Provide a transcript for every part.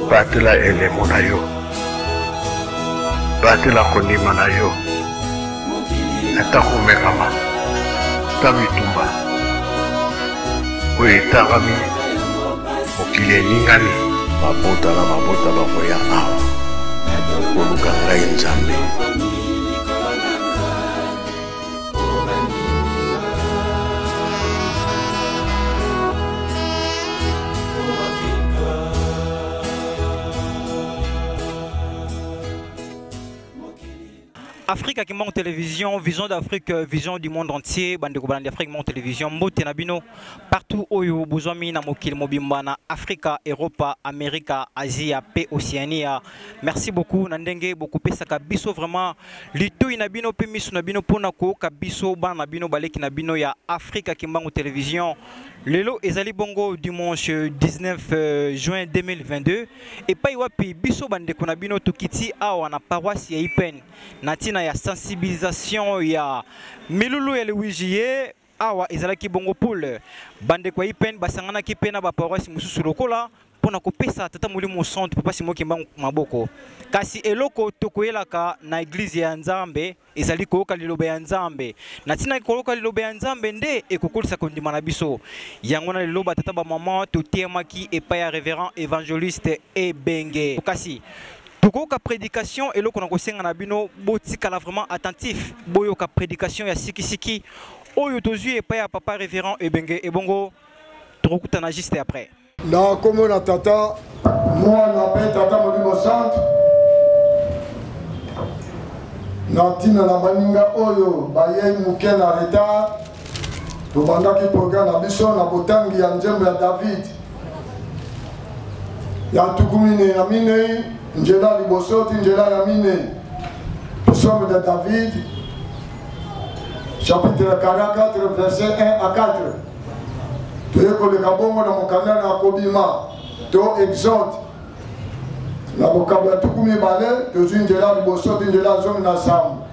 batela elemo na yo batela kondima na yo ata komekama ta bitumba oyo etangami mokili eningani mabota na mabota bakoya awa koluka ngai nzambe Afrique à Kimon Télévision, Vision d'Afrique, euh, Vision du monde entier, Bande de Afrique Mon Télévision, Mbote Nabino, partout où vous besoin na mokil mobimbana, Africa, Europa, America, Asie, P, Océania. Merci beaucoup, Nandenge, beaucoup pesaka biso vraiment litoi na bino mpe miso na bino mpo na kooka biso bana na bino baleki na bino ya afrika kimbangu television lelo ezali bongo dimanche 19 euh, juin 2022 epai wapi biso bandeko na bino tokiti awa na paroisse ya ipene na ntina ya sensibilisation ya milulu ya lewijiye Awa ezalaki bongo pole, bandeko ya IPN basanganaki mpe na baparoise mosusu lokola mpo na kopesa tata molimo mosantu Papa Simon Kimbangu maboko. Kasi eloko tokoyelaka na eglize ya Nzambe ezali koyoka liloba ya Nzambe. Na ntina ya koyoka liloba ya Nzambe nde ekokolisa kondima na biso. Yango na lelo batata bamama toteyamaki epai ya reverend evangeliste Ebenge. Kasi tokoyoka prédication eloko na kosenga na bino botikala vraiment attentif boyoka prédication ya sikisiki oyo tozwi epai ya papa révérend ebenge ebongo tokokutana juste après na nkombo na tata mwana mpe tata molimo santu na ntina na baninga oyo bayei moke na retard tobandaki programe na biso na botangi ya nzembo ya david ya ntuku minei na minei njela ya liboso ti njela ya minei psaume de david chapitre 44 verset 1 à 4 toye koleka bongo na mokanda na kobima to exode na bokabo ya tuku mibale tozwi njela ya liboso ti njela ya zomi na nsambo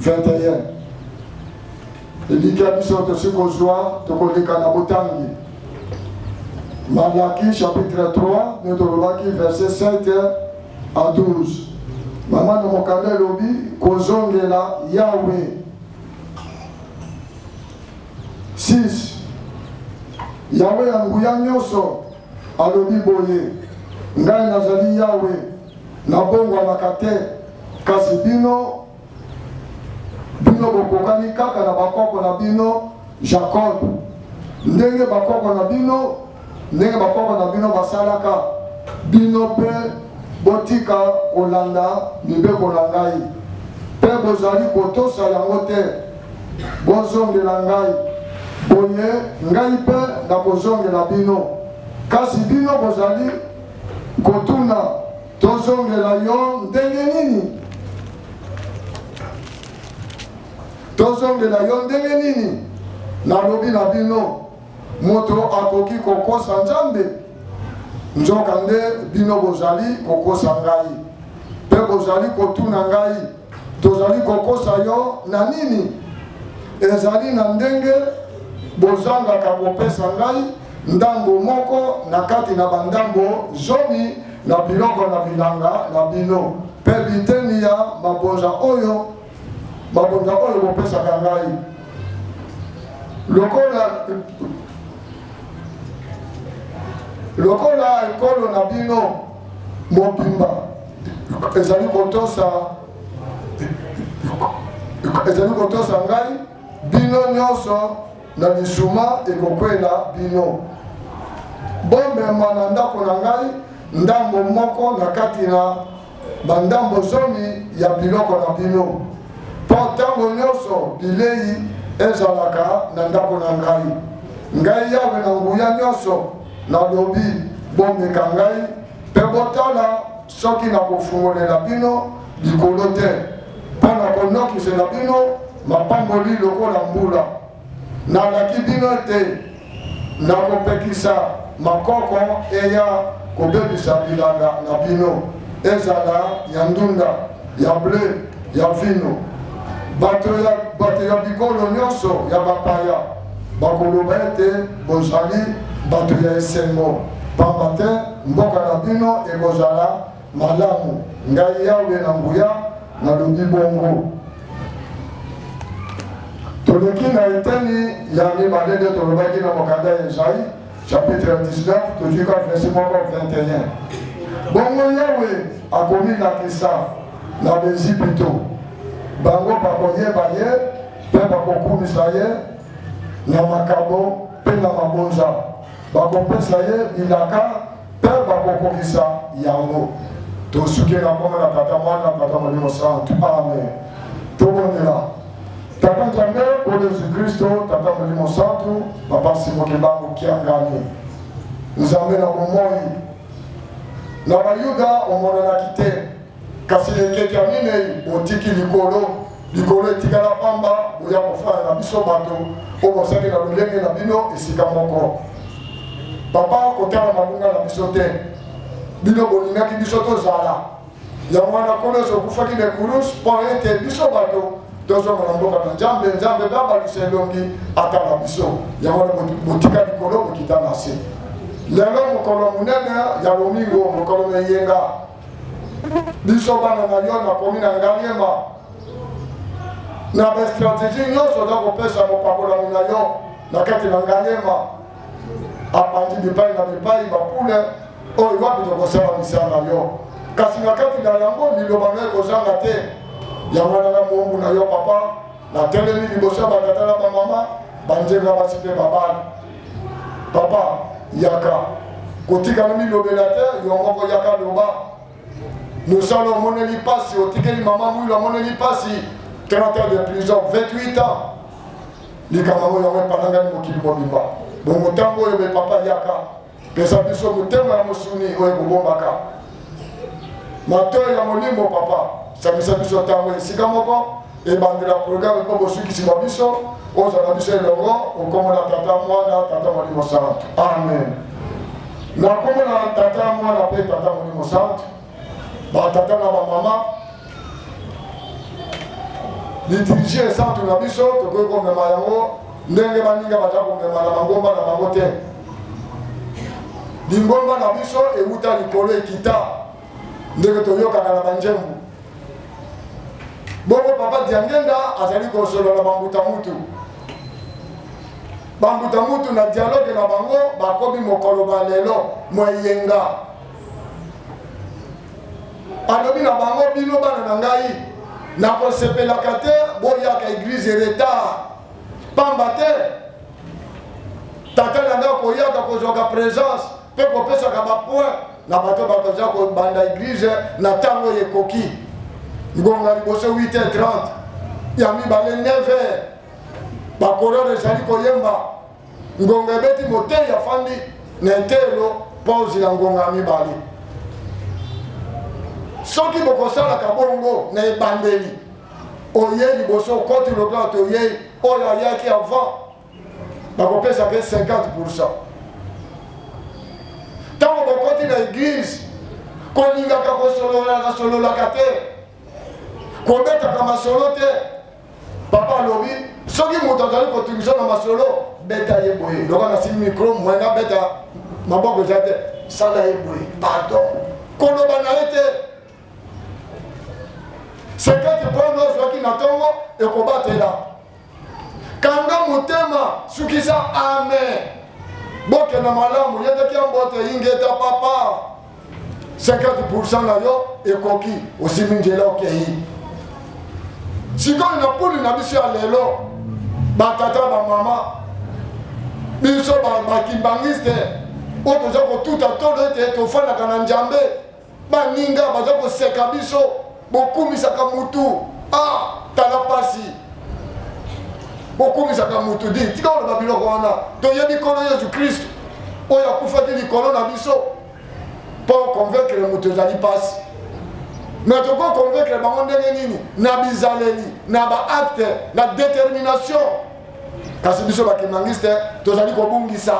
21 elikya biso tosi kozwa tokoleka na botangi malaki chapitre 3 nde tolobaki verset 7 a 12 mama na mokanda elobi kozongela yawe 6 yawe ya nguya nyonso alobi boye ngai nazali yawe nabongwanaka te Kasi bino, bino bokokani kaka na bakoko na bino Jacob, ndenge bakoko na bino, ndenge bakoko na bino basalaka, bino mpe botika kolanda mibeko na ngai, mpe bozali kotosa yango te, bozongela ngai, boye ngai mpe nakozongela bino. Kasi bino bozali kotuna tozongela yo ndenge nini tozongela yo ndenge nini nalobi na bino moto akoki kokosa nzambe nzokande bino bozali kokosa ngai mpe bozali kotuna ngai tozali kokosa yo na nini ezali na ndenge bozangaka kopesa ngai ndambo moko na kati na bandambo zomi na biloko na bilanga na bino mpe biteni ya mabonza oyo mabonza oyo bopesaka ngai lokola lokola ekolo na bino mobimba ezali kotosa ezali kotosa ngai bino nyonso na lisuma ekokwela bino bomema na ndako na ngai ndambo moko na kati na bandambo zomi ya biloko na bino mpo ntango nyonso bilei ezalaka na ndako na ngai ngai yawe na nguya nyonso nalobi bomeka ngai mpe botala soki nakofungolela bino likolo te mpo na konokisela bino mapamboli lokola mbula nalaki bino ete nakopekisa makoko eya kobebisa bilanga na bino ezala ya ndunda ya ble ya vino bato ya bikolo nyonso ya bapaya bakoloba ete bozali bato ya esengo mpamba te mboka na bino ekozala malamu ngai yawe na nguya nalobi bongo toleki na eteni ya mibale nde tolobaki na mokanda ya ezai chapitre 19 tozwi ka verse moko 21 bongo yawe akomilakisa na baezipito bango bakoyeba ye mpe bakokumisa ye na makabo mpe na mabonza bakopesa ye bilaka mpe bakokokisa yango tosuki na nkombo na tata mwana tata molimo santu amen tobondela tata nzambe o yesu kristo tata molimo santu papa simoki bango kiangani nzambe na bomoi na bayuda omonanaki te kasi ekeke ya minei botiki likolo likolo etikala pamba boya kofana na biso bato oyo bozali na lolenge na bino esika moko papa kotala mabunga na biso te bino bolingaki biso tozala yango wana nkolo yesu okufaki na ekurus mpo ete biso bato tozonga na mboka na nzambe nzambe babalisa elongi atala biso yango wana botika likolo bokita na se lelo mokolo monene ya lomingo mokolo na eyenga biso bana na yo nakomi na ngaliema na bastrategie nyonso oza kopesa mopakolami na yo na kati na ngaliema abandi bipai na bipai bapule oyo wapi tokosala misala na yo kasi na kati na yango liloba na ekozanga te yango wana na moombu na yo papa natelemi liboso ya batata na bamama banzenga basi mpe babali papa yaka kotikala milobela te yo moko yaka loba mosala omoneli mpasi otikeli mama mwilo amoneli mpasi 30 ans de prison 28 ans likambo yango yango epanangani mokili mobimba bongo ntango oyo bepapa yaka pesa biso motema ya mosuni oyo ekobombaka matoi ya molimo papa sangisa biso ntango esika moko ebandela programe mpo bosukisi bwa biso ozala biso elongo okomona tata mwana tata molimo santu amen nakomona tata mwana mpe tata molimo santu batata na bamama liturgie esantu na biso tokoki komema yango ndenge baninga baza komema na bangomba na bango te lingomba na biso ewuta likolo ekita ndenge toyokaka na banjembu bongo papa diangenda azali kosolola bambuta mutu bambuta mutu na dialoge na bango bakomi mokolo ba lelo moyenga alobi na bango bino bana na ngai nakosepelaka te boyaka eglize retard pamba te tata na ngai akoyaka kozwaka présence mpe kopesaka bapoint na bato bakoza kobanda eglize na ntango oyo ekoki ngonga liboso 8h30 ya mibale 9h bakororo ezali koyemba ngonga ebeti moteyi afandi na eteyelo mpo ozila ngonga ya mibale soki bokosalaka bongo na ebandeli oye liboso okoti lokola toyei oyo ayaki avant bakopesaka 50 pourcent ntango bokoti na eglize kolingaka kosololaka sololaka te kobetaka masolo te papa alobi soki moto azali kotumisa na masolo beta ye boye loka nasili mikro moye nabeta maboko eza te sala ye boye pardon koloba na ye te sekete pona ozwaki na ntongo ekobatela kanga motema sukisa amen bokenda malamu yendaki ya mbote ingeta papa 50% na yo ekoki osimbi njela okei sikoyo na puni na biso ya lelo batata bamama biso bakimbangiste oyo toza kotuta tolo ete tofandaka na njambe baninga baza koseka biso bokumisaka mutu ah tala pasi bokumisaka mutu di tika oloba biloko wana toyebi nkolo yesu kristu oyo akufaki likolo na biso mpo okonvekre moto ezali mpasi me tokoki okonvekre bango ndenge nini na bizaleli na baakte na determination kasi biso bakimangiste tozali kobungisa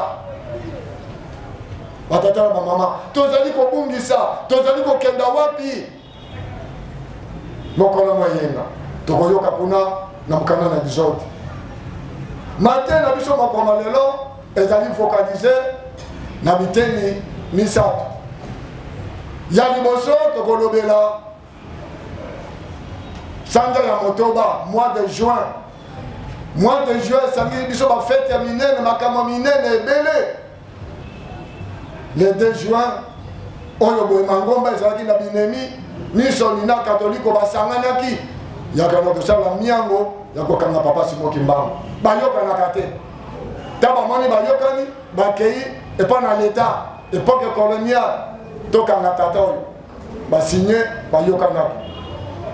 batata na bamama tozali kobungisa tozali kokenda wapi mokolo moyenga tokoyoka kuna na mokanda na exode mate na biso mokoma lelo ezali focalise na biteni misato ya liboso tokolobela sanza ya motoba mois de juin mois de juin esangi biso bafete ya minene makambo minene ebele le 2 juin oyo boye mangomba ezalaki na binemi miso nina katoliko basanganaki yakana kosala miango ya kokanga papa simo kimbangu bayokanaka te ta bamoni bayokani bakei epai na leta epoke coloniale tokanga tata oyo basigne bayokanaki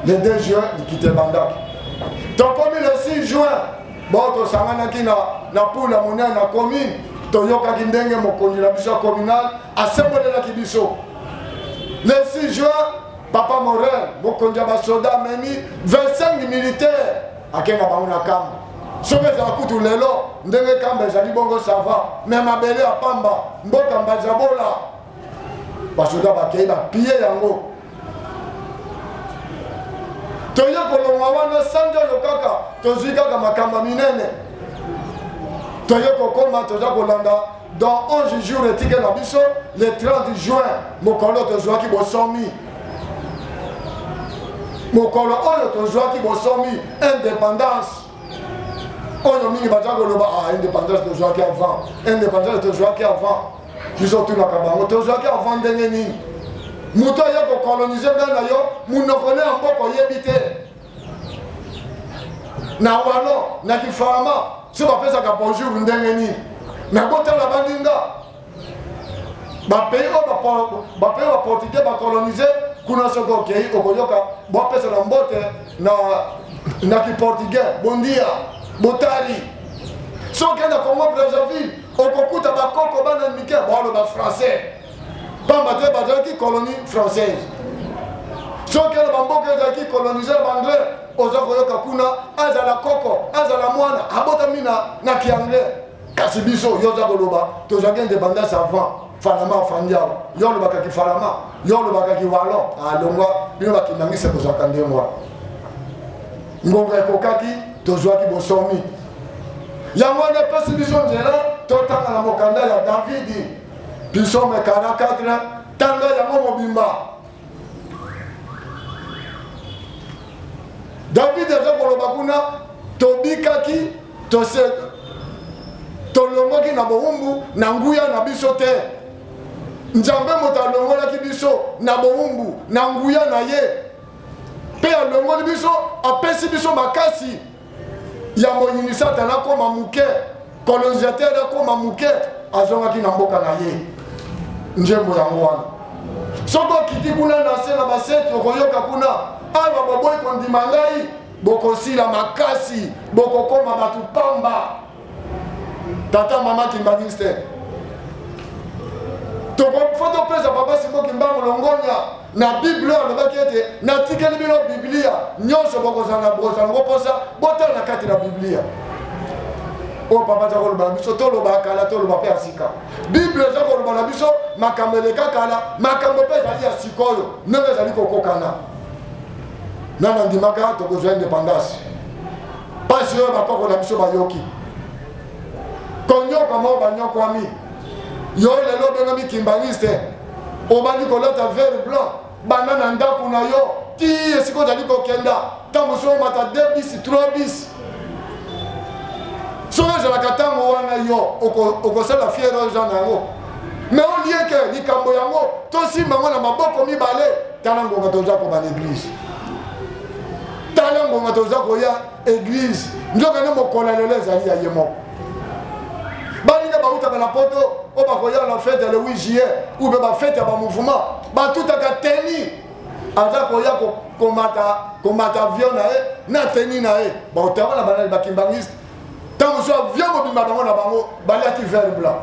le 2 juin likita ebandaki tokomi le 6 juin bao tosanganaki na, na pula monene na commune toyokaki ndenge mokonzi na biso ya communal asembolelaki biso le 6 juin papa morel mokonzi ya basoda amemi 25 militaire akei na bango na kamba soki ezala kutu lelo ndenge kamba ezali bongo sava me mabele ya pamba mboka mbazabola basoda bakei bapie yango toye kolongwa wana sanza oyo kaka tozwi kaka makambo ya minene toye kokoma toza kolanda dans 11 jours etike na biso le 30 juin mokolo tozwaki bosomi mokolo oyo tozwaki bosomi indépendance oyo mingi baza koloba ah, indépendance tozwaki avant indépendance tozwaki avant biso tunaka bango tozwaki avant ndenge nini moto aye kokolonize ngai na yo monoko ne ya mboka oyebi te na walo na kifalama so bapesaka bonjour ndenge nini nakotala baninga bapays oyo bapays baportugais bakolonize kuna soki okei okoyoka bopesa na mbote na, na kiportugais bondia botari soki na congo brazzaville okokuta bakoko bana mike baoloba français pamba te bazalaki colonie française soki na bamboka ezalaki kolonise na baanglais oza koyoka kuna azala koko azala mwana abotami na kianglais kasi biso yo oza koloba tozwaki independance avant falama afandi awa yo olobaka kifalama yo olobaka kiwalon alongwa ah, bino bakindangisa tozwaka ndenge wana ngonga ekokaki tozwaki bosomi yango wana epesi biso nzela totanga na mokanda ya davidi pisome 44 tanga yango mobimba davidi aza koloba kuna tobikaki tose tolongoki na bowumbu na nguya na biso te nzambe moto alongolaki biso na bowumbu na nguya na ye mpe alongoli biso apesi biso makasi ya moyini satana akoma moke colonisateur akoma moke azongaki na mboka na ye nzembo yango wana soki okiti kuna na se na baseti okoyoka kuna awa boboyi kondima ngai bokosila makasi bokokoma bato pamba tata mama kimbaniste fo topesa papa simo kimbangu longonya na biblia oyo alobaki ete natikeli bino biblia nyonso bokozala na bozango mposa botala na kati na biblia oyo papa aza koloba na biso toloba kala toloba mpe ya sika biblia eza koloba na biso makambo eleka kala makambo mpe ezali ya sikoyo ndenge ezali kokokana nana ndimaka tokozwa independance mpasi oyo bakoko na biso bayoki konyoka moko banyokwami yo lelo obengami kimbaniste obandi kolata vere blanc banda na ndako na yo ti esika ozali kokenda ntango mosusu omata 2 bis 3 bis soki ezalaka ntango wana yo okosala fiere oza na yango me olie ke likambo yango tosimba yango na maboko mibale tala ngonga toza koba na eglise tala ngonga toza koya eglize nzoka nde mokolo ya lelo ezali ya ye moko baninga bautaka na poto oyo bakoya na fete ya le 8 juillet ou mpe bafete ya bamouvement batutaka teni aza koya komata komata avion na ye na teni na ye baotama na banani bakimbangiste ntango mosusu avion mobimba bango na bango balati vert blanc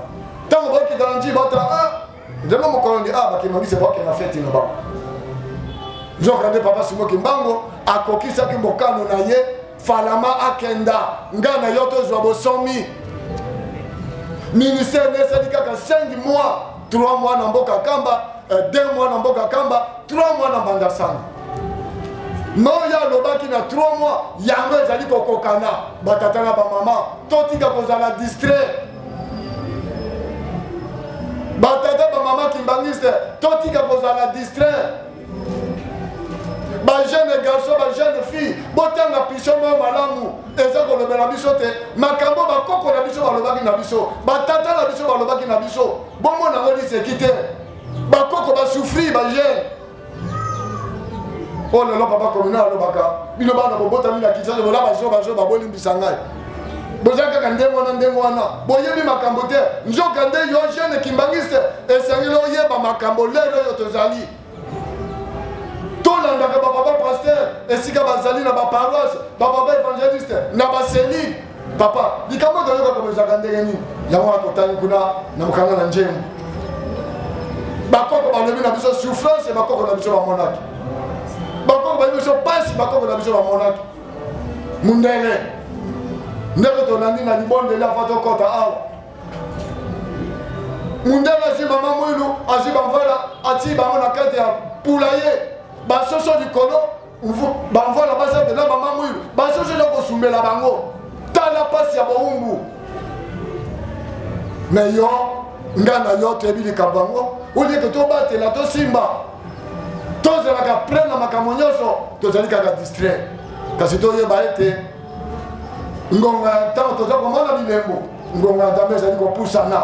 ntango bakita na nji bata ah, nzambe mokolo nde awa bakemangisa baoke na feti na bango nzoka nde papa simo kimbango akokisaki mokano na ye falama akenda nga na yo tozwa bosomi ministère nesali kaka 5 mois 3 mois na mboka kamba 2 euh, mois na mboka kamba 3 mois na mbanda sana noye alobaki na 3 mois yango ezali kokokana batata na bamama totika kozala distrait batata bamama kimbanguiste totika kozala distrait bajeune garçon bajeune fille botanga pisio moko malamu eza kolobela biso te makambo bakoko na biso balobaki na biso batata na biso balobaki na biso bomona yango liseki te bakoko basouffrir bajeune oyo lelo papa komina alobaka bino bana bobotami na kinshasa bola bazo bazo babolimbisa ngai boza kaka ndenge wana ndenge wana boyebi makambo te nzoka nde yo jeune kimbangiste esengeli oyeba makambo lelo oyo tozali tolandaka bapapa paster esika bazali na baparoise bapapa evangeliste na baselile papa likambo oyo toyoka koma ezalaka ndenge nini yango wana totali kuna na mokanda na njembo bakoko balobi na biso souffrance ya bakoko na biso bamonaki bakoko bayebi biso mpasi bakoko na biso bamonaki mundele ndeko tolandi na libondeli afa tokɔta awa mundele azwi mama mwilu azwi bamvela atii bango na kati ya pula ye basoso likolo bamvwala bazate na bamamwilu bazozela kosumbela bango tala mpasi ya bowumbu me yo nga na yo toyebi likambo yango olieke tobatela tosimba tozalaka plein na makambo nyonso tozali kaka distrait kasi toyeba ete ngonga ya ntango toza komona bilembo ngonga ya nzambe ezali kopusana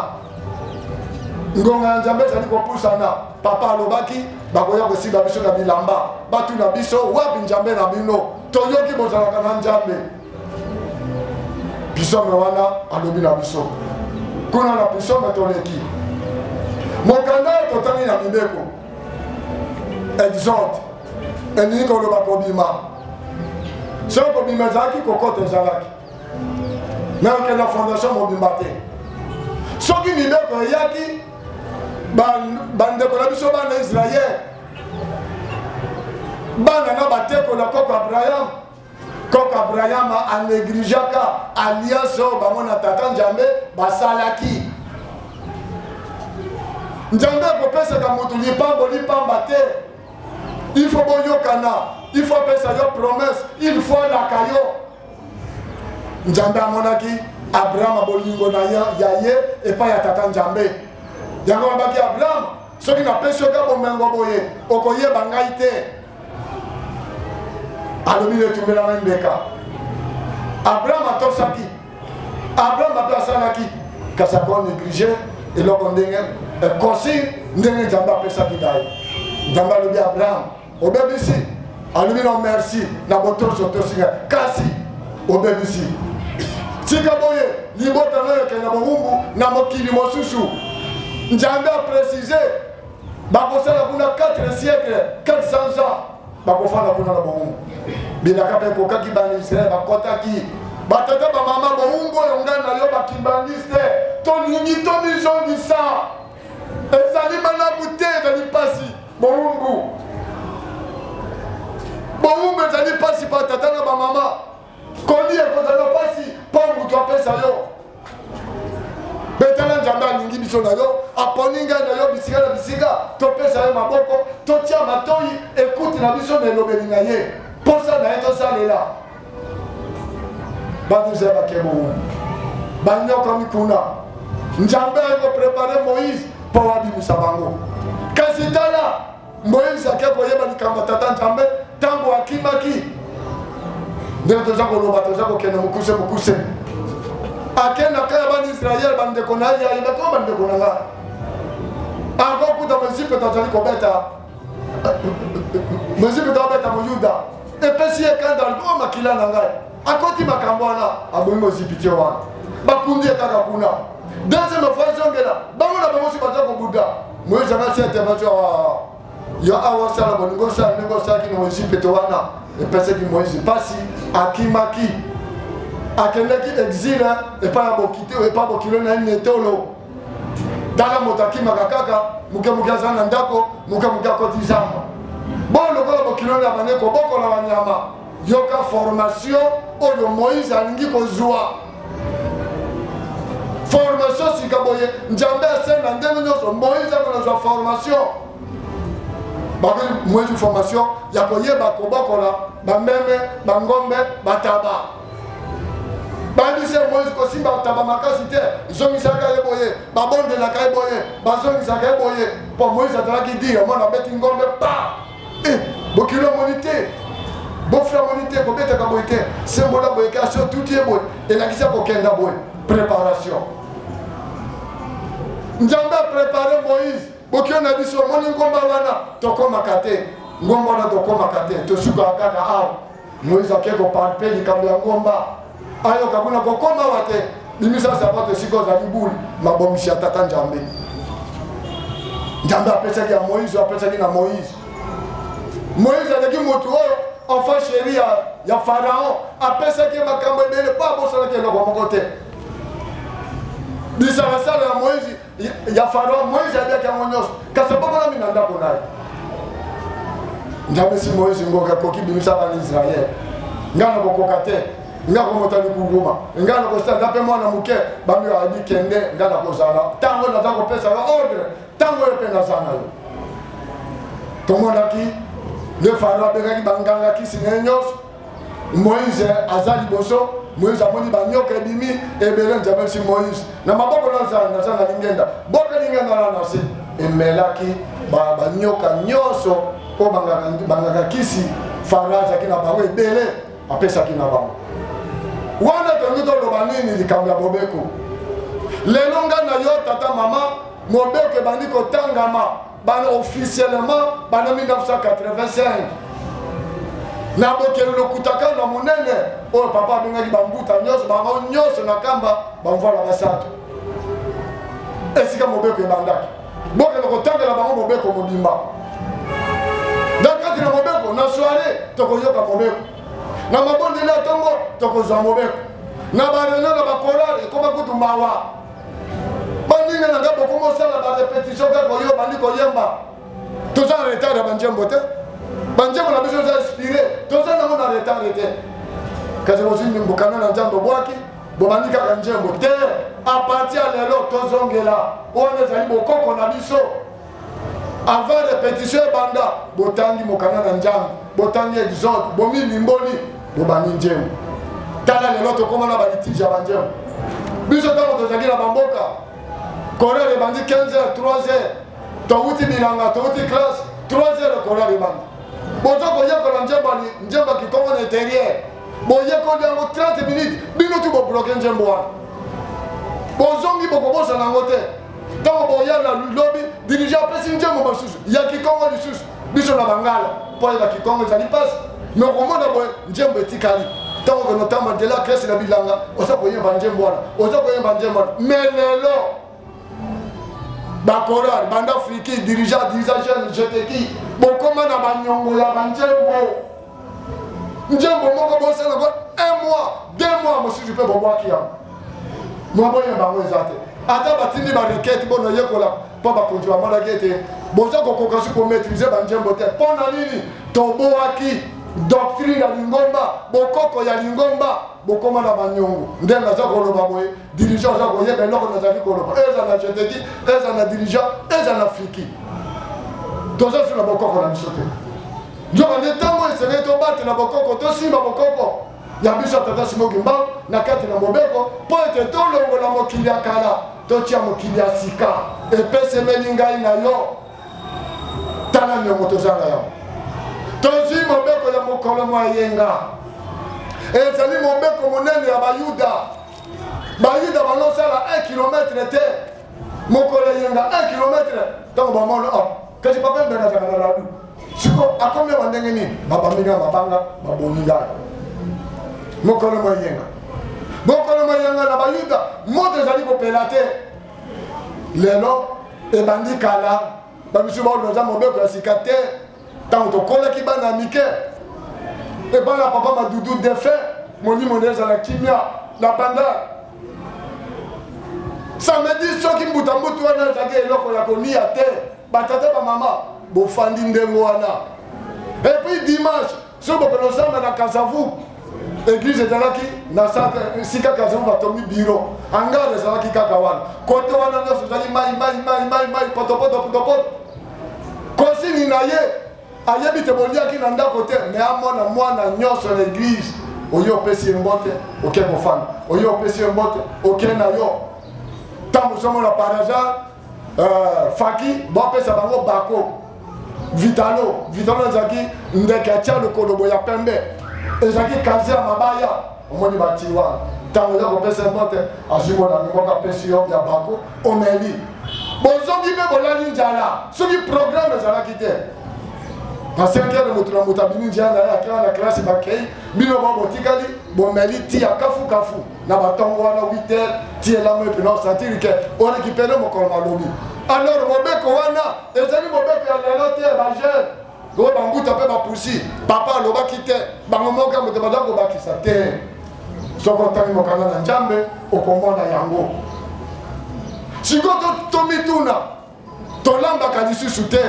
ngonga ya nzambe ezali kopusana papa alobaki bakoya kosiba biso na bilamba batu na biso wapi njambe na bino toyoki bozalaka na njambe pisome wana alobi na biso kuna na pisome toleki mokanda oyo totali na mibeko exode elingi koloba kobima soki kobima ezalaki kokota ezalaki me okenda fondation mobimba te soki mibeko eyaki bandeko na biso bana israele bana na bateko na koko abraham koko abraham anegligeaka alliance oyo bango na tata nzambe basalaki nzambe akopesaka moto lipambo lipamba te il faut boyokana il faut apesa yo promesse il faut alaka yo nzambe amonaki abrahama bolingo na ya ye epai ya tata nzambe yango alobaki abrahama soki napesi yoka bomengo boye okoyeba ngai te alobi netumbelama mbeka abraham atosaki abraham ape asalaki kasi akoneglige eloko ndenge consigne ndenge nzambe apesaki ngai nzambe alobi abraham obebisi alobi na merci na botosi otosi ngai kasi obebisi tika boye libota nayo ekende na bowumbu na mokili mosusu nzambe aprécise bakosala kuna 4 siècle 400 ans bakofanda kuna na bowumbu bilaka mpe ekokaki bana israele bakɔtaki batata bamama bowumbu oyo ngai na yo bakimbangiste tolingi tomizongisa ezali malamu te ezali mpasi bowumbu bowumbu ezali mpasi mpa tata na bamama kolia ekozala mpasi mpo moto apesa yo betala nzambe alingi biso na yo aponi ngai na yo bisika na bisika topesa ye maboko totya matoi ekuti na biso na elobeli na ye mposa na ye tosalela baduza bakemo wana banyokomi kuna nzambe akoprepare moïse mpo abimisa bango kasi tala moïse ake koyeba likambo tata nzambe ntango akimaki ndenge toza koloba toza kokende mokuse mokuse akendaka ya bana israele bandeko na ye ayebaki o bandeko na nga akokuta mozipe tozali kobeta mozibi tobeta moyuda epesi ye kanda o oh, makila na ngai akoti makambo wana abomi mozibi te wana bakundi ye kaka kuna deuxième fois ezongela bango na bango si baza kobuda moyezi anga si ete bazo ah, yo awa osala bolingi osala ndenge osalaki na mozibi te wana epesaki moyezi mpasi akimaki akendaki exile epai ya bokilo na ye netolo tala moto akimaka kaka moke moke aza na ndako moke moke akoti zamba boyo lokola bokilo ya bane kobokola banyama yoka formation oyo moïse alingi kozwa formation sika boye njambe asenda ndenge nyonso moïse akonazwa formation bakoki mwezi formation ya koyeba kobokola bameme bangombe bataba bandisi ya moise kosimba ntaba makasi te zongisaka ye boye babondelaka ye boye bazongisaka ye boye mpo moise azalaki dire omona abeti ngombe pa eh, bokilo omoni te bofula omoni te kobetaka boye te sembola boye kasi otuti ye boye elakisa kokenda boye préparation nzambe aprépare moise bokilo na biso omoni ngomba wana tokomaka te ngomba wana tokomaka te tosukaka kaka awa moise ake kopampe likambo ya ngomba ayoka kuna kokoma wa te bimisa sapato esika ozali bule mabongisi ya tata njambe njambe apesaki ya moise apesaki na moise moise azalaki motu oyo enfant chéri ya, ya pharaon apesaki ye makambo ebele mpo abosanaki eloko moko te bisalasala ya moise ya faro moise aliaki yango nyonso kasi abokolami na ndako na ye njamesi moise ngoka akoki bimisa bana israele ngai na kokoka te ngai komota likunguma ngai na kosala nga mpe mwana moke bambi ayebi kende ngai na kozala ntango naza kopesa yo ordre ntango oyo mpe naza na yo tomonaki nde faro abengaki banganga kisi na ye nyonso moïse aza liboso moïse amoni banyoka ebimi ebele nzambe esi moïse na maboko nazala naza na lingenda boka lingenda na nase emelaki banyoka nyonso oyo bangaka kisi fara azalaki na bango ebele apesaki na bango wana tolingi toloba nini likambo ya bobeko lelo ngai na yo tata mama mobeko ebandi kotangama bana officiellement bana 1985 na bokeli lokuta kaka na monene oyo papa abengaki bambuta nyonso bango nyonso na kamba bamvwala basato esika mobeko ebandaki bokende kotangela bango mobeko mobimba na kati na mobeko na soire tokoyoka mobeko na mabondeli ya ntongo tokozwa mobeko na bareunion na bakorale ekoma kutu mawa baninga na nga bokomi osala barepetition kaka oyo obandi koyemba toza na retard ya banjembo te banjembo na biso eza inspire toza nango na retard te kasi bozwi mbokana na nzambe obwaki bobandi kaka njembo te aparti ya lelo tozongela wana ezali bokoko na biso avant repetition ebanda botangi mokanda na nzambe botangi exode bomilimboli bobandi nzembo tala lelo tokoma na balitiji ya banzembo biso ntango tozalaki na bamboka korale ebandi 15 heures 3 heures towuti bilanga towuti classe 3 heures korale ebandi boza koyekola nzembo ya kikongo na interieur boyekoli yango 30 minutes bino ti bobloke nzembo wana bozongi bokobosana yango te ntango boya na lobi dirija apesi nzembo basusu ya kikongo lisusu biso na bangala mpo ayeba kikongo ezali mpasi me okomona boye nzembo etikali ntango okende otamba nzela kresi na bilanga oza koyemba nzembo wana oza koyemba nzembo wana me lelo bakoral banda friki dirija dirija jeune jeteki bokoma na banyongo ya banzembo njembo moko bosala yango un mois deux mois mosusu mpe bobwaki yango maboya bango eza te ata batindi barikete mpo nayekola mpo bakonzi bamonaki ete boza kokoka su komaitrise banjembo te mpo na nini tobwaki doctrine ya lingomba bokoko ya lingomba bokoma na banyongo nde naza koloba boye dirigeant oza koyeba eloko nazali koloba eza na jeteki eza na dirigeant eza na fiki toza su na bokoko na biso te nzoka nde ntango esengeli tobatela bokoko tosimba bokoko ya biso tata simoki mbangu na kati na mobeko mpo ete tolongola mokili ya kala totya mokili ya sika epesemeli ngai na yo tala niongo tozanga yango tozwi mobeko ya mokolo mwa yenga ezali mobeko monene ya bayuda bayuda balosala 1 kilometre te mokolo eyenga 1 kilometre ntango bamona ah, kasi papa mbena azaka na ladu siko akomi ya bandenge nini babambinga mabanga babongi ngai mokolo moyenga mokolo moyenga na bayuda moto ezali kopela te lelo ebandi kala bamisusu baoloza mobeko ya sika te ntango tokolaki bana mike epai na papa madudu defe molimo na ezala kimia na banda samedi soki mbutambutu wana ezalaki eloko ya kolia te batata bamama bofandi ndenge wana epuis dimanche soki bokolo ozanga na kazavu eglise ezalaki na esika kazavu batongi biro angare ezalaki kaka wana kote wana nyonso ezali mai mai mai mai mai potopoto potopoto kosini na ye ayebi te boliaki na ndako te me amona mwana nyonso na eglise oye opesi ye mbote oke kofanda oye opesi ye mbote oke na yo ntango ozomona par hasard euh, faki bopesa bango bako vitalo vitalo ezalaki ndeke ya tia lokolobo ya pembe ezalaki kazi ya mabaya omoni bati wana ntango oza kopesa mbote azwi molami moko apesi yo ya bako omeli bozongi mpe bolali njala soki programe ezalaki te na senkele moto na moto abimi njia na ye akela na klasi bakei bino bao botikali bomeli ti ya kafukafu na batongo wana 8 heures ti elambo epena osentir ke orekipere mokolo na lobi alors mobeko wana ezali mobeko ya lelo te bajeune oyo bambuta mpe bapusi papa alobaki te bango moko ya moto baza kobakisa te soki otangi mokanda na nzambe okomona yango sikoyo tomituna tolambaka lisusu te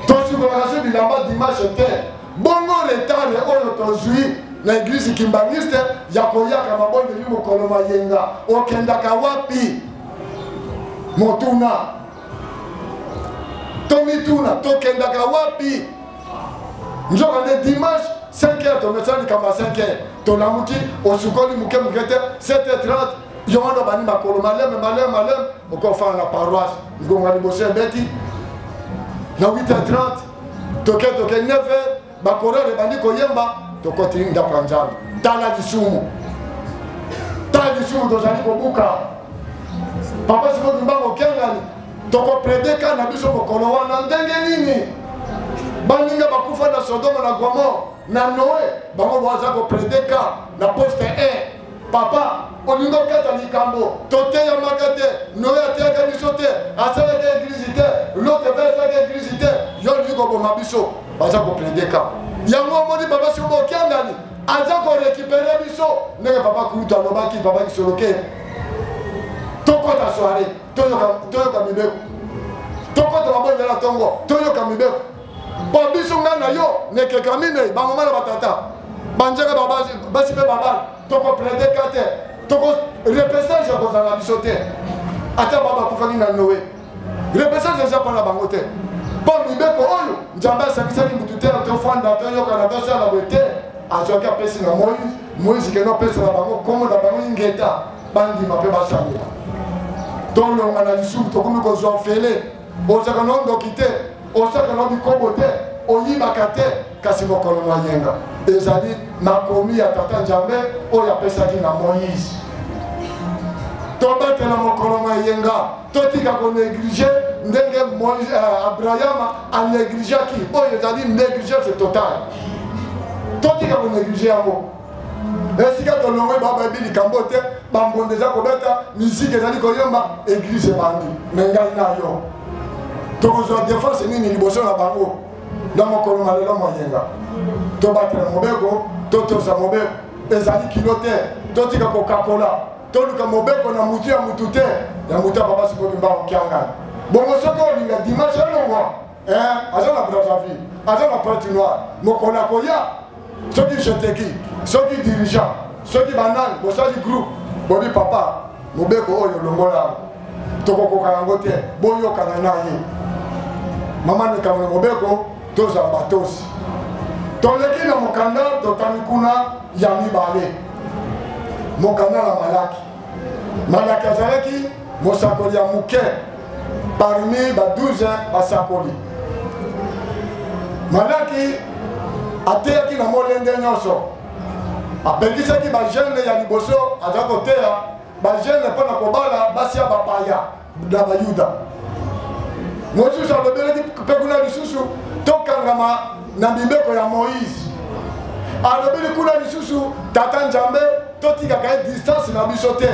tosikolaka se bilamba dimanche te bongo retard oyo tozwi na eglise kimbaniste ya koyaka mabondeli mokolo mayenga okendaka wapi motuna tomituna tokendaka wapi nzoka nde dimanche 5 heures tomesana likambo ya 5 heures tolamuki osukoli moke moke te 7 heures 30 yo wana obandi makolo maleme maleme maleme okofana na paroisse ngonga liboso ebeti na 8h30 toke toke 9h bakorere ebandi koyemba tokoti ndako ya nzambe tala lisumu tala lisumu tozali kobuka papa sikoki mbango okengani tokoprede ka na biso mokolo wana ndenge nini baninga bakufa na sodoma na gomor na noe bango baza koprede ka na poste 1 Papa, olingi okata likambo toteyamaka te noye ateyaka biso te asalaka eglize te lote mpe asalaka eglize te yo olingi koboma biso baza koplede ka yango omoni papa soki bokiangani aza korekipere biso ndenge papa kulutu alobaki papa kisoloke tokɔta soire toyoka mibeko tokɔta mabondela ntongo toyoka mibeko mpo biso ngai na yo nekeka minei bamama na batata banjaka basi mpe babana tokoplaide ka te toko repesage ekozala na biso te ata baba akufaki na noe repesage eza mpo na bango te mpo mibeko oyo nzambe asangisaki motu te tofanda toyokana tosala boye te azwaki apesi na moise moise kende apesa na bango nkombo na bango ingeta bandima mpe basalela tolonga na lisumu tokomi kozwa fele ozaka no ndoki te osaka no bikobo te oyibaka te kasi mokolo mwa yenga ezali makomi ya tata njambe oyo apesaki na moïse tobatela mokolo mwa yenga totika konéglige ndenge euh, abrahama anégligeaki oyo ezali négligence totale totika konéglige yango esika tolongwe babayebi likambo te bambonda eza kobeta miziki ezali koyemba eglise ebandi me ngai na yo tokozwa defense nini liboso na bango na mokolo na lelo moyenga tobatela mobeko totosa mobeko ezali kilo te totika kokakola toluka mobeko na motu ya motu te ya motu ya papa sikoki mbango kiangani bongo soki olinga dimanche elongwa eh, aza na brazzaville aza na pointe noire mokolo akoya soki jeteki soki dirigeant soki banani bosali groupe bobi papa mobeko oyo longola yango tokokoka yango te boyokana na ye mama likambo na mobeko tozala batosi toleki na mokanda totami kuna ya mibale mokanda na malaki malaki azalaki mosakoli ya moke parmi ba 12 basakoli malaki ateyaki na molende nyonso apekisaki bagene ya liboso aza koteya bagene mpo na kobala basi ya bapaya na bayuda mosusu alobelaki mpe kuna lisusu tokangama na mibeko ya moïse alobeli kuna lisusu tata nzambe totikaka ye distance na biso te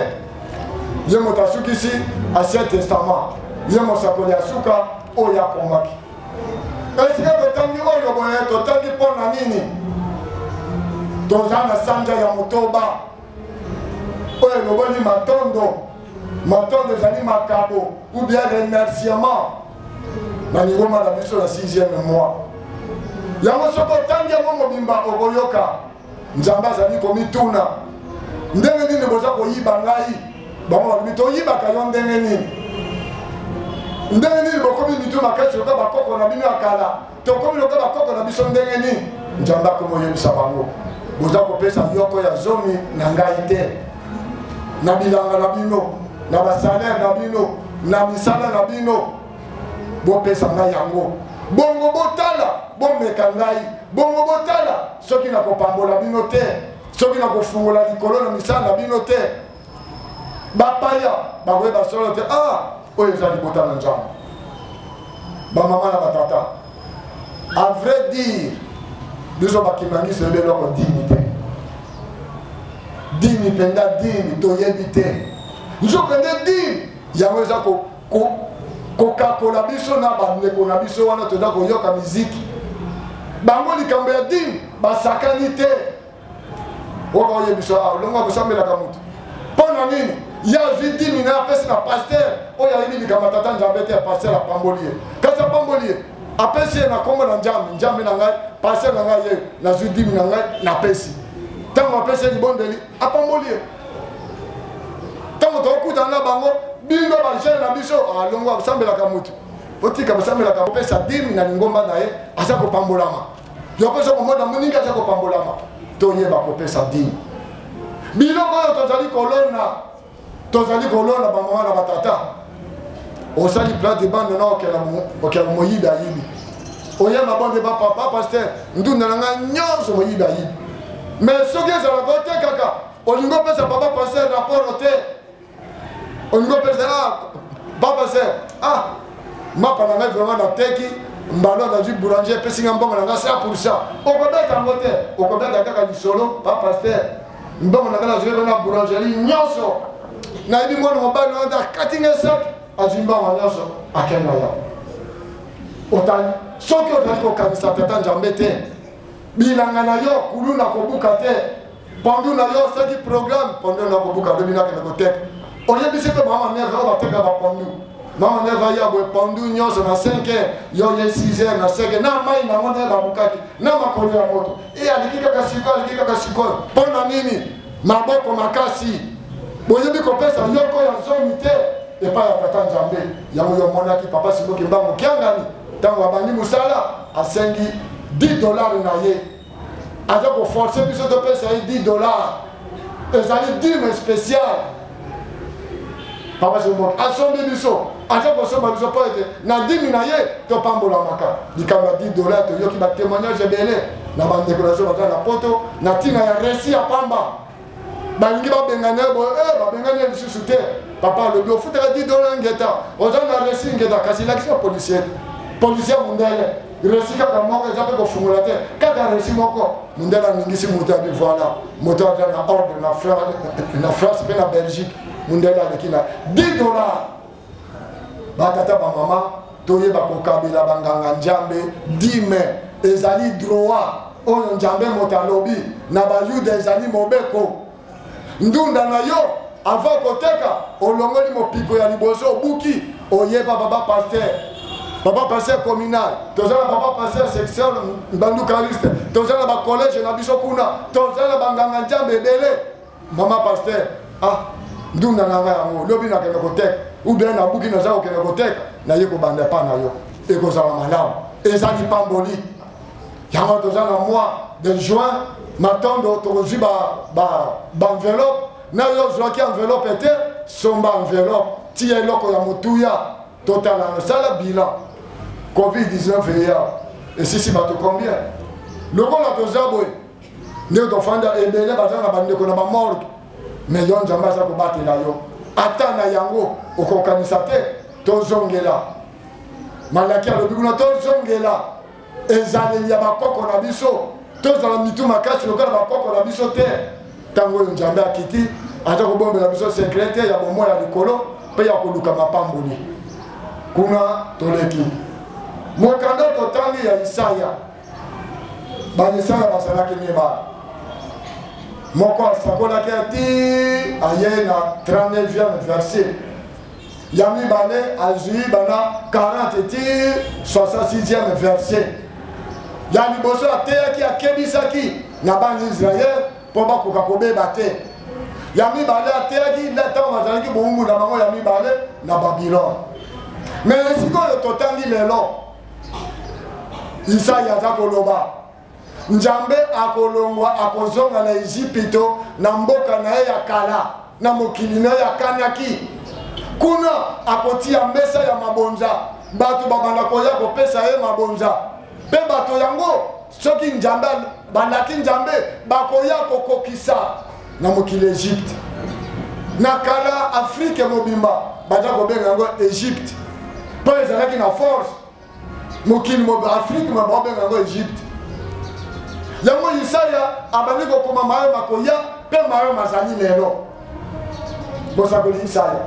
ye moto asukisi ancien testament ye mosakoli ya suka oyo akomaki esika totangi oyo boye totangi mpo na nini toza na sanja ya motoba oyo eloboli matondo matondo ezali makabo ou bien remerciement na ningoma na biso na 6e mois yango soki otangi yango mobimba okoyoka nzambe azali komituna ndenge nini boza koyiba ngai bango balobi toyibaka yo ndenge nini ndenge nini bokomi mitu makasi lokola bakoko na bino ya kala tokomi lokola bakoko na biso ndenge nini nzambe akomi oyebisa bango boza kopesa yoko ya zomi na ngai te na bilanga na bino na basalere na bino na misala na bino bopesa ngai yango bongo botala bomeka ngai bongo botala soki na kopambola bino te soki na kofungola likolo na misala na bino te bapaya bakoyeba solo te ah oyo eza libota na nzambe bamama na batata a vrai dire biso bakimangisi ebe eloko dini te dini mpenza dini toyebi te nzokende dini yango eza kokakola biso na bandeko na biso wana toza koyoka miziki bango likambo ya dini basakani te oka oyebisa ah, olongo akosambelaka moto mpo na nini ye azwi dini na apesi na paster oyo ayebi likambo tata nzambe te ya paster apamboli ye kasi apamboli ye apesi ye na nkombo na njambe njambe na ngai paster na ngai ye nazwi dini na ngai napesi ntango apesi ye libondeli apamboli ye ntango tokutana na bango bino bajene na biso alongo ah, akosambelaka motu otika kosambelaka kopesa dime na lingomba na ye aza kopambolama yokoza komona moninga aza kopambolama toyeba kopesa dime biloko oyo tozali kolona tozali kolona bamama na batata osali place de bande na okela moyibi ayibi oya mabonde bapapa paster ndunda na ngai nyonso moyibi ayibi mais soki ezalaka te kaka olingi opesa papa paster rapport te olingi opesa ah, papa ser ah mapa na ngai vraiment nateki mbalo nazwi boulanger epesi ngai mbongo na ngai 100 pourcent okobeta yango te okobeta kaka lisolo papa paster mbongo na ngai nazwi yango na boulangerie nyonso nayebi mwana mobali na ngai akati ngai saki azwi mbongo nyonso akenda ya otali soki ozali kokanisa tata njambe te bilanga na yo kuluna kobuka te pondu na yo soki programme pondu na kobuka lobi nakende koteka oyebisi mpe mama neve oyo bateka bapondu mama neve aya boye pondu nyonso na 5 heure yo ye 6 heure na 5 na mai nango nde babukaki na makolo ya moto e alingi kaka sikoyo alingi kaka sikoyo mpo na nini maboko makasi boyebi kopesa yoko ya zomi te epai ya tata nzambe yango yo omonaki papa simoki mbango kiangani ntango abandi mosala asengi 10 dolare na ye aza koforce biso topesa ye 10 dolare ezali dime spécial papa jomon asombi biso aza kosomba biso mpo ete na dimi na ye topambolamaka likambo ya 10 dola toyoki batémoignage ebele na bandeko na biso baza na poto na ntina ya resi ya pamba balingi babengana ye boye eh, babengani ye lisusu te papa alobi ofutaka 10 dola ngeta oza na resi ngeta kasi elakisa policier policier mondele resi kaka moko eza mpe kofungola te kaka resi moko mondele aningisi moto ya bivoila moto aza na ordre na france mpe na belgique mondele aleki na 10 dollar batata bamama toyeba kokabela banganga njambe 10 mai ezali droit oyo njambe moto alobi na bayuda ezali mobeko ndunda na yo avant koteka olongoli mopiko ya liboso obuki oyeba baba pasteur papa pasteur communal toza na papa pasteur section bandukaliste toza na bacollege na biso kuna toza na banganga njambe ebele mama pasteur ah ndunda na ngai yango lobi nakende koteka ubien nabuki naza kokende koteka naye kobanda epa na yo ekozala malamu ezali pamboli yango wana toza na mois de juin matondo tokozwi baenveloppe na yo ozwaki enveloppe te somba enveloppe tiya eloko ya motuya totala nasala bilan covid-19 eya esisi bato combien lokola toza boye nde tofanda ebele baza na bandeko na bamorgue me yo nzambe aza kobatela yo ata na yango okokanisa te tozongela malaki alobi kuna tozongela ezaleli ya bakoko na biso tozala mitu makasi lokola bakoko na biso te ntango oyo nzambe akiti aza kobombela biso sekre te ya bomoi ya likolo mpe ya koluka mapamboli kuna toleki mokanda totangi ya isaya bayisaya bazalaki mibale moko asakolaki ati aye na 39e verset ya mibale azwi bana 40 ti 66e verset ya liboso ateyaki akebisaki na bana israele mpo bakoka kobeba te ya mibale ateyaki ntango bazalaki bowumbu na bango ya mibale na babilone me sikoyo totangi lelo isaya aza koloba njambe akolongwa akozonga na ezipito na mboka na ye ya kala na mokili na ye ya kanaki kuna akotia mesa ya mabonza bato babanda koya kopesa ye mabonza mpe bato yango soki njambe balaki njambe bakoya kokokisa na mokili egypte na kala afrike mobimba baza kobenga yango egypte mpo ezalaki na force mokili mobe afrike ma baobenga yango egypte yango yisaya abandi kokoma mayo makoya mpe mayo mazali lelo bosakoli yisaya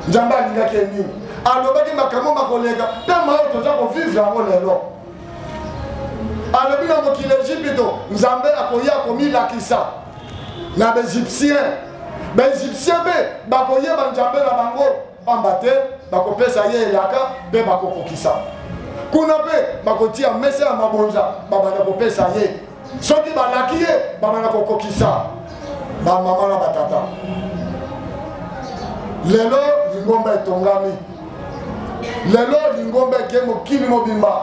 nzambe alingaki ye nini alobaki makambo makoleka mpe mayo toza kovivre yango lelo alobi na mokili egypito nzambe akoya komilakisa na baegyptien baegyptien mpe bakoyeba nzambe na bango pamba te bakopesa ye elaka mpe bakokokisa kuna mpe bakotia mesa ya mabonza babanda kopesa ye soki balaki ye babanda kokokisa bamama na batata lelo lingomba etongami lelo lingomba eke mokili mobimba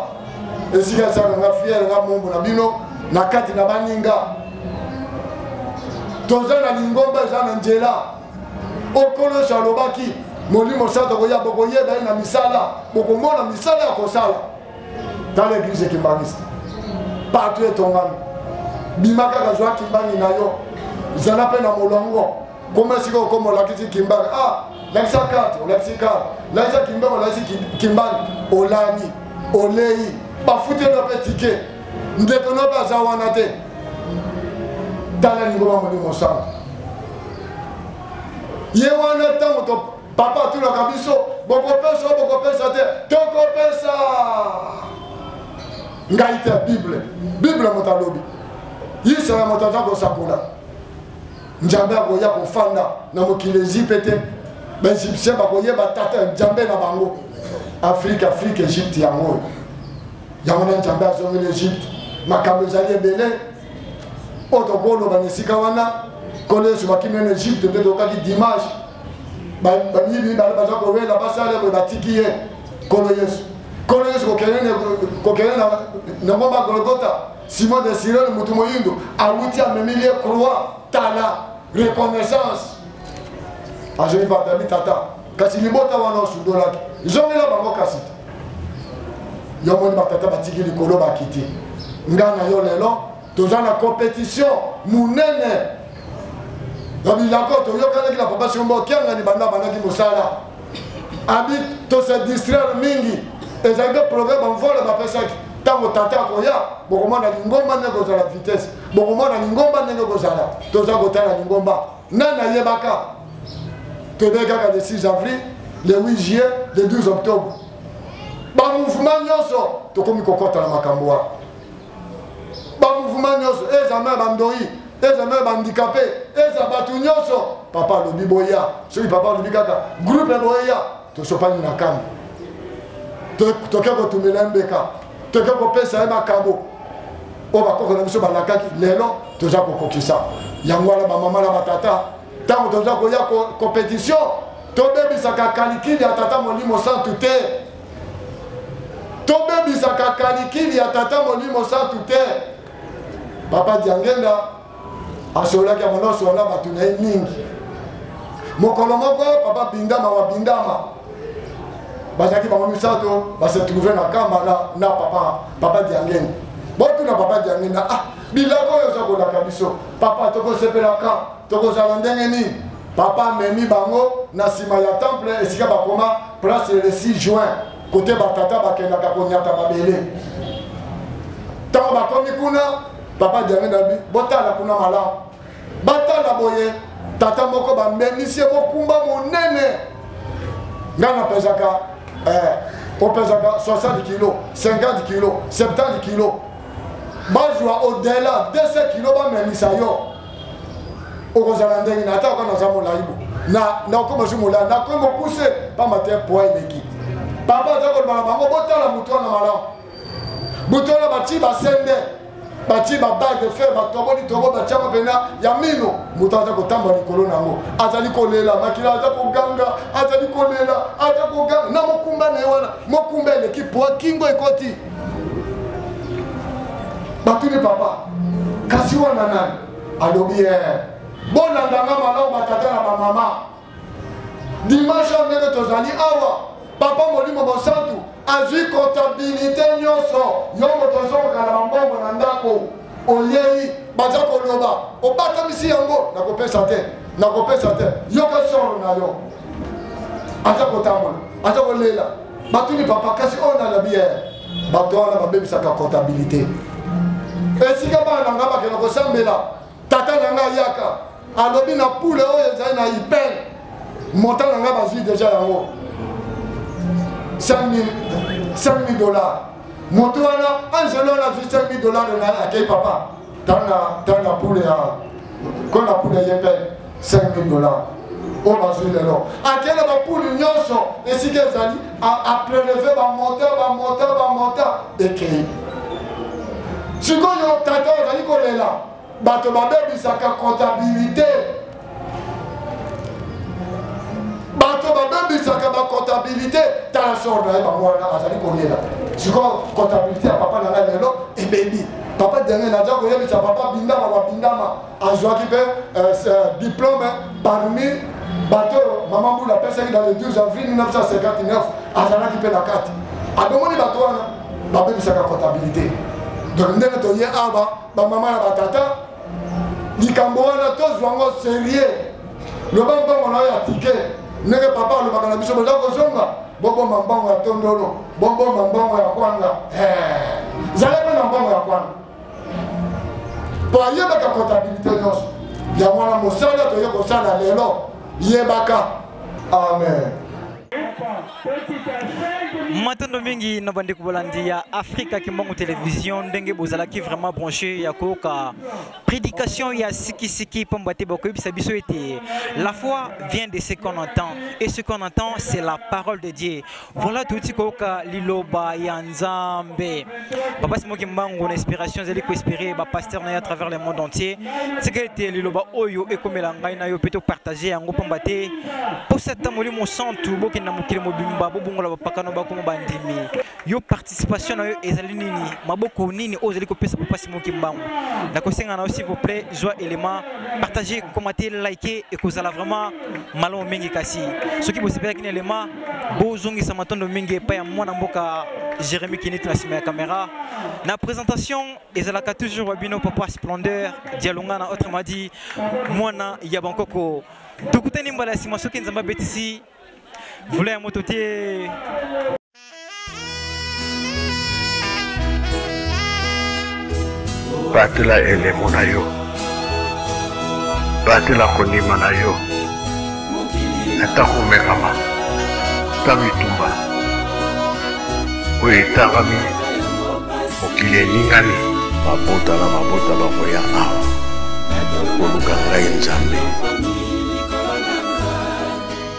esika esaka nga fiere nga mombo na bino na kati na baninga toza na lingomba eza na nzela okolo yesu alobaki molimo santo akoya bokoyeba ye na misala bokomona misala ya kosala tala eglise ekimbangisa partout etongami bima kaka zwa kimbangi na yo zala mpe na molongo koma esika okoma olakisi kimbangi ah lakisa karte olakisi karte lakisa kimbangi olakisi kimbangi olani olei bafuteli yo mpe tike ndeko nobe aza wana te tala lingoma molimo mosantu ye wana ntango papa atulaka biso bokopesa o bokopesa te tokopesa ngai te bible bible moto alobi yisaya moto aza kosakola nzambe akoya kofanda na mokili ezipe te baegyptien bakoyeba tata nzambe na bango afrike afrike egypte yango oyo yango na nzambe azongi na egypte makambo ezali ebele oyo tokoki koloba na esika wana nkolo yesu bakimi na egypte nde tokaki dimanche bamiyibi baza kowela basala boye batiki ye nkolo yesu nkolo yesu kokende na ngomba golgota simon de sirene motu moyindo awuti amemili ye croix tala reconnaissance azongi batali tata kasi libota wana osundolaki zongela bango kasi te yo moni batata batiki likolo bakiti nga na yo lelo toza na competition monene na bilako toyokanaki na papa siomba okiangani banda bandaki mosala abi tose distraire mingi ezali mpe programe bamvole bapesaki ntango tata akoya bokomona lingomba ndenge kozala vitesse bokomona lingomba ndenge kozala toza kotala lingomba nani ayebaka toyebi kaka le 6 avril le 8 juillet le 12 octobre bamouvement nyonso tokomi kokɔta na makambo wana bamouvement nyonso eza meme bandoi eza meme bandikape eza bato nyonso papa alobi boya soki papa alobi kaka groupe boya tosopani na kambo toke kotumela ye mbeka toke kopesa ye makabo oyo bakoko na biso balakaki lelo toza kokokisa yango wana bamama na batata ntango toza koya kompetitio tobebisaka kalikili ya tata molimo santu te tobebisaka kalikili ya tata molimo santu te papa diangenda asololaki yango nosolo na bato na ye mingi mokolo moko papa bindama wa bindama bazalaki bango misato base trouve na kamba na, na papa papa diangeni botuna papa diangeni na ah biloko oyo oza kolaka biso papa tokosepelaka tokozala ndenge nini papa amemi bango na nsima ya temple esika bakoma place le 6 juin kote batata bakendaka konyata mabele ntango bakomi kuna papa diange nabi botala kuna malamu batala boye tata moko bambemisi ye bokumba monene ngai napesaka eh, opesaka 60 kilo 50 kilo 70 kilo bazwa odela 200 kilo bamemisa yo okozala ndenge na ata okana oza molaibo nakoma su molai nakomi mokuse mpamba te poi eleki papa aza koloba na bango botala motu wana malamu butu wana batii basende batii babage fer batoboli tobo batiango mpena ya mino moto aza kotambola likolo na yango azali kolela makila aza koganga azali kolela aza koganga na mokumba na ye wana mokumba eleki po kingo ekoti batuni papa kasi wana nani alobi ye eh, bolanda nga malamu batata na bamama dimanche oyo ndenge tozali awa papa molimo mosantu azwi kontabilite nyonso yo moto ozongoka na bambongo na ndako oyei baza koloba obatamisi yango nakopesa te nakopesa te yoka solo na yo aza kotambola aza kolela batuni papa kasi oyo na labi ye bato wana babebisaka kontabilite esika bana na ngai bakenda kosambela tata na ngai ayaka alobi na pule oyo ezali na ipen montant na ngai bazwi deja yango 5000 dollars moto wana angelo wana azwi 5000 dollars na akei papa tanga pule ya kona pule ya ipen 5000 dollars oyo bazwi lelo ake na bapulu nyonso esika ezali apreleve bamota bamota bamota ekei sikoyo tata ozali kolela bato babebisaka comptabilité bato babebisaka bacomptabilité tala sor na ye bango wana azali kolela sikoyo comptabilité ya papa na ngai lelo ebebi papa daniel aza koyebisa papa bindama babindama azwaki mpe euh, euh, diplome parmi bato oyo mama mbula apesaki dans le 12 avril 1959 azalaki mpe na kati adomoni bato wana babebisaka comptabilité donc ndenge toye awa bamama na batata likambo wana tozwa yango serieux loba mbongo na yo ya tike ndenge papa alobaka na biso boza kozonga bobomba mbongo ya tondolo bobomba mbongo ya kwanga eh. zala mpe na mbongo ya kwanga po ayebaka comptabilité nyonso yango wana mosala toye kosala lelo yebaka amen matondo mingi na bandeko bolandi ya afrika kimbangu television ndenge bozalaki vraiment branche ya koyoka prédication ya sikisiki mpamba te bakoyebisa biso ete la foi vient de ce qu'on entend et ce qu'on entend c'est la parole de dieu Voilà touti koyoka liloba ya nzambe papa simo kimbangu na inspiration ezali koinspire bapaster na ye à travers le monde entier tika ete liloba oyo ekomela ngai na yo mpe topartage yango mpamba te mposa ata molimo santu bokende na mokili mobimba bobongola bapakano bakoma bandimi yo participation na yo ezali nini maboko nini oyo ozali kopesa papa simo kimbangu nakosenga na yo s'il vous plaît zwa élément partage komate like ekozala vraiment malamu mingi kasi soki bosepelaki na élément bozongisa matondo mingi epai ya mwana mboka jérémi kinit na nsima ya kamera na présentation ezalaka toujours babino papa splendeur dialonga na autrement dit mwana ya bankoko tokutani mbala ya nsima soki nzambe abetisi vula ya moto te batela elemo na yo batela kondima na yo ata komekama ta bitumba oyo etangami mokili eningani mabota na mabota bakoya awa koluka ngai nzambe